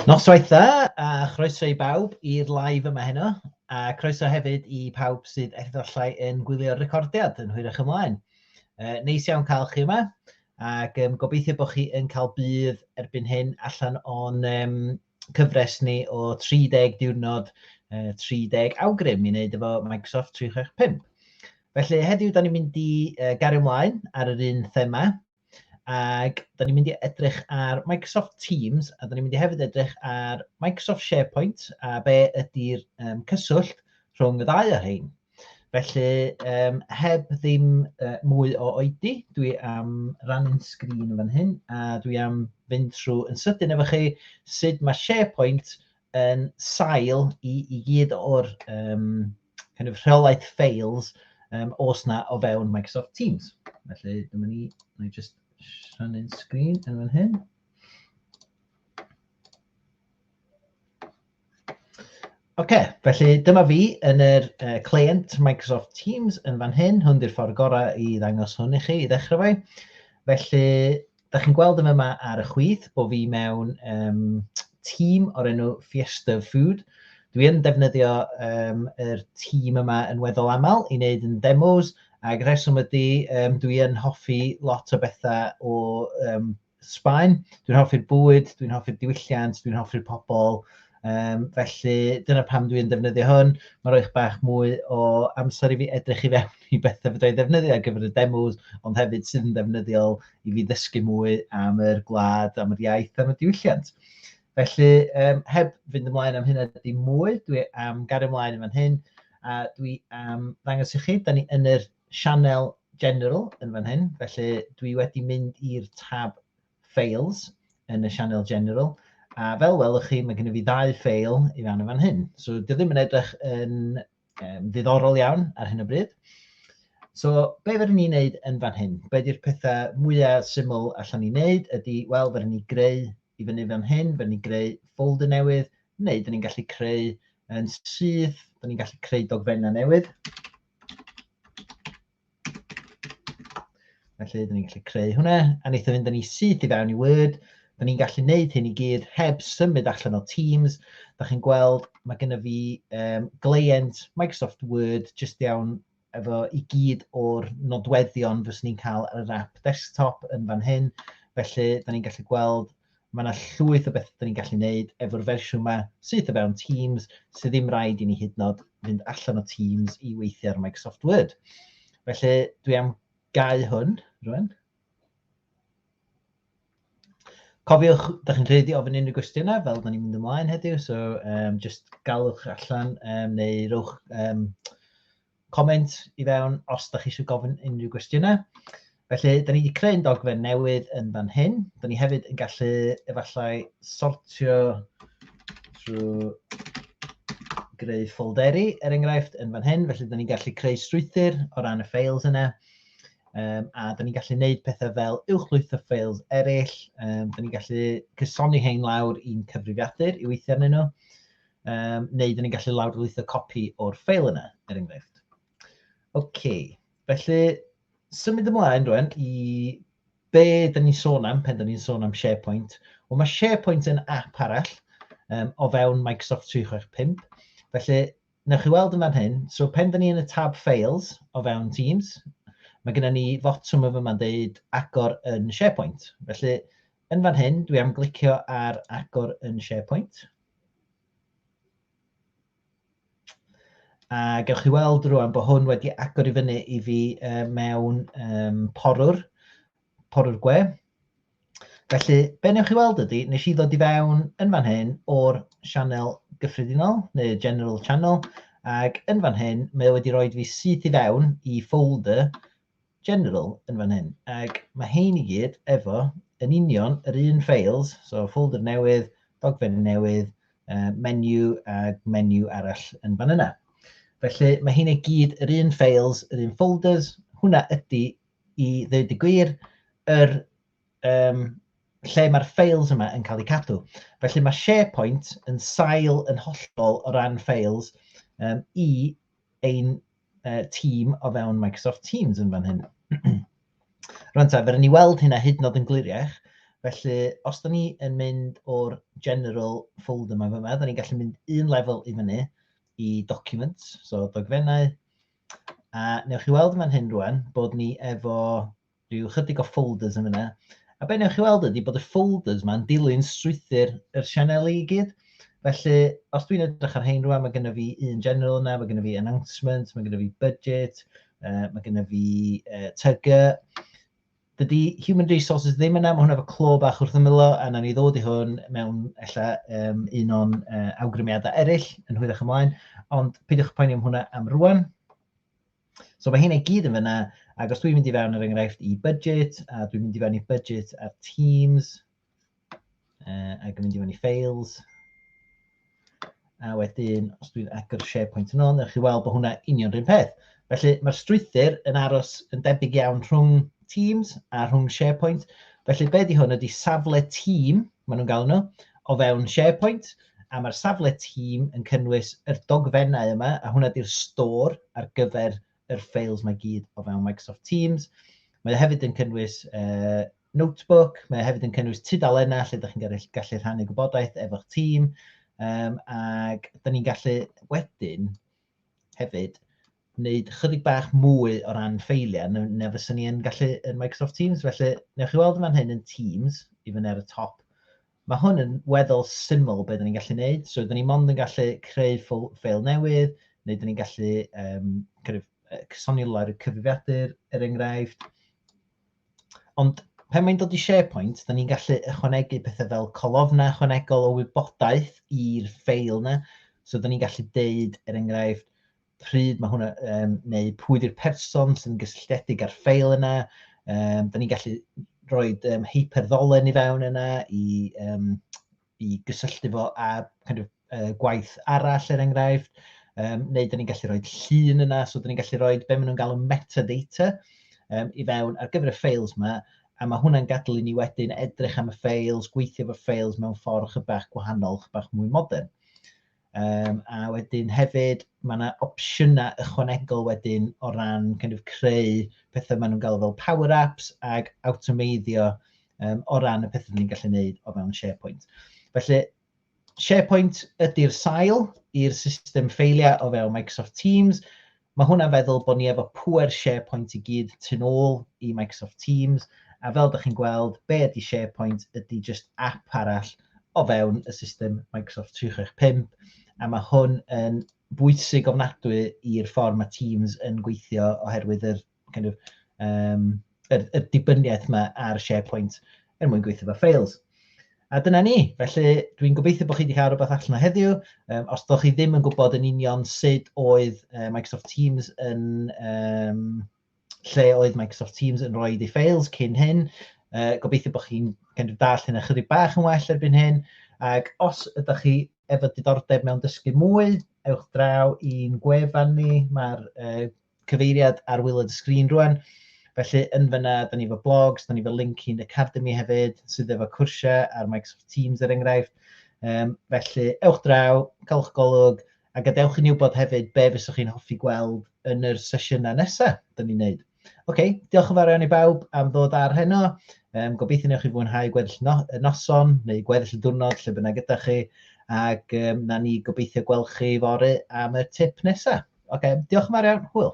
Noswaith dda a chroeso i bawb i'r live yma heno, a croeso hefyd i pawb sydd efallai yn gwylio'r recordiad yn hwyrach ymlaen. Uh, neis iawn cael chi yma, ac um, gobeithio bod chi yn cael bydd erbyn hyn allan o'n um, cyfres ni o 30 diwrnod, uh, 30 awgrym i wneud efo Microsoft 365. Felly heddiw, da ni'n mynd i uh, gario ymlaen ar yr un thema, Ac da ni'n mynd i edrych ar Microsoft Teams a da ni'n mynd i hefyd edrych ar Microsoft SharePoint a be ydy'r um, cyswllt rhwng y ddau o hyn. Felly, um, heb ddim uh, mwy o oedi, dwi am rannu'n sgrin fan hyn a dwi am fynd trwy yn sydyn efo chi sut mae SharePoint yn sail i, i gyd o'r um, kind of rheolaeth ffeils um, os na o fewn Microsoft Teams. Felly, dyma ni, na i just rhannu'n sgrin yn fan hyn. Oce, okay, felly dyma fi yn yr uh, client Microsoft Teams yn fan hyn. Hwn di'r ffordd gorau i ddangos hwn i chi i ddechrau fe. Felly, Da chi'n gweld yn yma ar y chwith bod fi mewn um, tîm o'r enw Fiesta Food. Dwi yn defnyddio um, yr tîm yma yn weddol aml i wneud yn demos, ac rheswm ydy, um, dwi yn hoffi lot o bethau o um, Sbaen. Dwi'n hoffi'r bwyd, dwi'n hoffi'r diwylliant, dwi'n hoffi'r pobl, Um, felly dyna pam dwi'n defnyddio hwn. Mae'n rhoi bach mwy o amser i fi edrych i fewn i bethau fydda i'n defnyddio ar gyfer y demos, ond hefyd sydd yn defnyddiol i fi ddysgu mwy am yr gwlad, am yr iaith, am y diwylliant. Felly, um, heb fynd ymlaen am hynna di mwy, dwi am gario ymlaen yn fan hyn, a dwi am ddangos i chi, da ni yn yr sianel general yn fan hyn, felly dwi wedi mynd i'r tab Fails yn y sianel General. A fel welwch chi, mae gennym fi ddau fail i fewn yn fan hyn. So, dwi ddim yn edrych yn um, ddiddorol iawn ar hyn o bryd. So, be fydden ni'n neud yn fan hyn? Be di'r pethau mwyaf syml allan ni'n neud ydy, wel, fydden ni greu i fyny fan hyn, fydden ni greu folder newydd, neu fydden ni'n gallu creu yn syth, fydden ni'n gallu creu dogfennau newydd. Felly, dyn ni'n gallu creu hwnna, a wnaethon fynd yn ei syth i fewn i Word. Dyn ni'n gallu gwneud hyn i gyd heb symud allan o Teams. Da chi'n gweld, mae gennym fi um, gleient Microsoft Word jyst iawn efo i gyd o'r nodweddion fyswn ni'n cael yr app desktop yn fan hyn. Felly, da ni'n gallu gweld Mae yna llwyth o bethau dyn ni'n gallu gwneud efo'r fersiwn yma sydd o fewn Teams, sydd ddim rhaid i ni hyd nod fynd allan o Teams i weithio ar Microsoft Word. Felly, dwi am gau hwn rwan. Cofiwch, da chi'n rhaid i ofyn unrhyw gwestiynau fel da ni'n mynd ymlaen heddiw, so um, just galwch allan um, neu rowch um, comment i fewn os da chi eisiau gofyn unrhyw gwestiynau. Felly, da ni wedi creu un dogfen newydd yn fan hyn. Da ni hefyd yn gallu efallai sortio drwy greu ffolderi, er enghraifft, yn fan hyn. Felly, da ni'n gallu creu strwythyr o ran y ffeils yna. Um, a da ni'n gallu gwneud pethau fel uwchlwytho ffeils eraill. Um, da ni'n gallu cysoni hein lawr i'n cyfrifiadur i weithio arnyn nhw. um, neu dyn ni'n gallu lawrlwytho copi o'r ffeil yna, er enghraifft. OK, felly symud ymlaen rwan i be dyn ni'n sôn am pen dyn ni'n sôn am SharePoint. Wel, mae SharePoint yn app arall um, o fewn Microsoft 365. Felly, newch chi weld yn fan hyn, so pen dyn ni yn y tab Files o fewn Teams, mae gennym ni fotwm yma yma'n deud agor yn SharePoint. Felly, Yn fan hyn, dwi am glicio ar agor yn SharePoint. A gewch chi weld rwan bod hwn wedi agor i fyny i fi uh, mewn um, porwr, porwr gwe. Felly, be newch chi weld ydy, nes i ddod i fewn yn fan hyn o'r sianel gyffredinol, neu general channel, ac yn fan hyn, mae wedi rhoi fi syth i fewn i folder general yn fan hyn, ac mae hein i gyd efo yn union yr un files, so folder newydd, dogfen newydd, uh, menu a menu arall yn fan yna. Felly mae hein i gyd yr un files, yr un folders, hwnna ydy i ddweud y gwir yr um, lle mae'r files yma yn cael eu cadw. Felly mae SharePoint yn sail yn hollol o ran files um, i ein uh, tîm o fewn Microsoft Teams yn fan hyn. Rwy'n ta, fe ni weld hynna hyd nod yn gliriach. Felly, os da ni yn mynd o'r general folder yma fyma, da ni'n gallu mynd un lefel i fyny i documents, so dogfennau. A newch chi weld fan hyn rwan bod ni efo rhyw chydig o folders yn fyna. A be newch chi weld ydy bod y folders ma'n dilyn strwythyr yr sianeli i gyd. Felly, os dwi'n edrych ar hein rwan, mae gennym fi un general yna, mae gennym fi announcement, mae gennym fi budget, uh, mae gennym fi uh, tyga. Dydy human resources ddim yna, mae hwnna fo clo bach wrth ymylo, a na ni ddod i hwn mewn ella um, un o'n uh, awgrymiadau eraill yn hwyrach ymlaen, ond peidiwch poeni am hwnna am rwan. So mae hyn i gyd yn fyna, ac os dwi'n mynd i fewn yr er enghraifft i budget, a dwi'n mynd i fewn i budget ar Teams, uh, ac yn mynd i fewn i files, a wedyn os dwi'n agor SharePoint yn ôl, newch chi weld bod hwnna union rhywun peth. Felly mae'r strwythyr yn aros yn debyg iawn rhwng Teams a rhwng SharePoint. Felly be di hwn ydy safle Teams, maen nhw'n galw nhw, o fewn SharePoint, a mae'r safle tîm yn cynnwys yr dogfennau yma, a hwnna di'r stor ar gyfer yr ffeils mae gyd o fewn Microsoft Teams. Mae o hefyd yn cynnwys uh, notebook, mae o hefyd yn cynnwys tudalennau lle ydych chi'n gallu, gallu rhannu gwybodaeth efo'ch tîm, um, ac da ni'n gallu wedyn hefyd wneud chydig bach mwy o ran ffeiliau na, na fyswn ni yn gallu yn Microsoft Teams. Felly, newch chi weld yma'n hyn yn Teams, i fyny ar y top. Mae hwn yn weddol syml beth ni'n gallu gwneud. So, dyn ni mond yn gallu creu ffeil newydd, neu dyn ni'n gallu um, kind of, cysonilau'r cyfrifiadur, er enghraifft. Ond pan mae'n dod i SharePoint, da ni'n gallu ychwanegu pethau fel colofnau ychwanegol o wybodaeth i'r ffeil yna. So da ni'n gallu deud, er enghraifft, pryd mae hwnna, um, neu pwy di'r person sy'n gysylltiedig â'r ffeil yna. Um, da ni'n gallu rhoi um, hyperddolen i fewn yna i um, i gysylltu fo â kind of, uh, gwaith arall er enghraifft, um, neu dyn ni'n gallu rhoi llun yna, so dyn ni'n gallu rhoi be maen nhw'n galw metadata um, i fewn ar gyfer y ffeils yma, a mae hwnna'n gadw i ni wedyn edrych am y ffeils, gweithio fy ffeils mewn ffordd chybach gwahanol, chybach mwy modern. Yym, a wedyn hefyd, mae yna opsiynau ychwanegol wedyn o ran kind of creu pethau maen nhw'n galw fel power apps ac awtomeiddio um, o ran y pethau ni'n gallu gwneud o fewn SharePoint. Felly, SharePoint ydy'r sail i'r system ffeiliau o fewn Microsoft Teams, Mae hwnna'n feddwl bod ni efo pŵer SharePoint i gyd tu nôl i Microsoft Teams, a fel dych chi'n gweld, be ydy SharePoint ydy jyst app arall o fewn y system Microsoft 365, a mae hwn yn bwysig ofnadwy i'r ffordd mae Teams yn gweithio oherwydd yr kind of, um, yr, yr dibyniaeth yma ar SharePoint er mwyn gweithio fo ffeils. A dyna ni. Felly, dwi'n gobeithio bod chi wedi cael rhywbeth allan o heddiw. Um, os ydych chi ddim yn gwybod yn union sut oedd uh, Microsoft Teams yn... Um, lle oedd Microsoft Teams yn rhoi ei ffeils cyn hyn, uh, gobeithio bod chi'n kind of dall hyn ychydig bach yn well erbyn hyn. Ac os ydych chi efo diddordeb mewn dysgu mwy, ewch draw i'n gwefan ni. Mae'r uh, cyfeiriad ar wylod y sgrin rwan. Felly yn fyna, da ni efo blogs, da ni efo link i'n academy hefyd, sydd efo cwrsiau ar Microsoft Teams er enghraifft. Um, felly, ewch draw, caelwch golwg, a gadewch i ni wybod hefyd be fyswch chi'n hoffi gweld yn yr sesiynau nesaf da ni'n neud. Oce, okay, diolch yn fawr iawn i bawb am ddod ar heno. Um, gobeithio newch chi fwynhau gweddill no noson neu gweddill y diwrnod lle bynnag gyda chi. Ac um, na ni gobeithio gweld chi fory am y tip nesaf. Oce, diolch yn fawr iawn. Hwyl.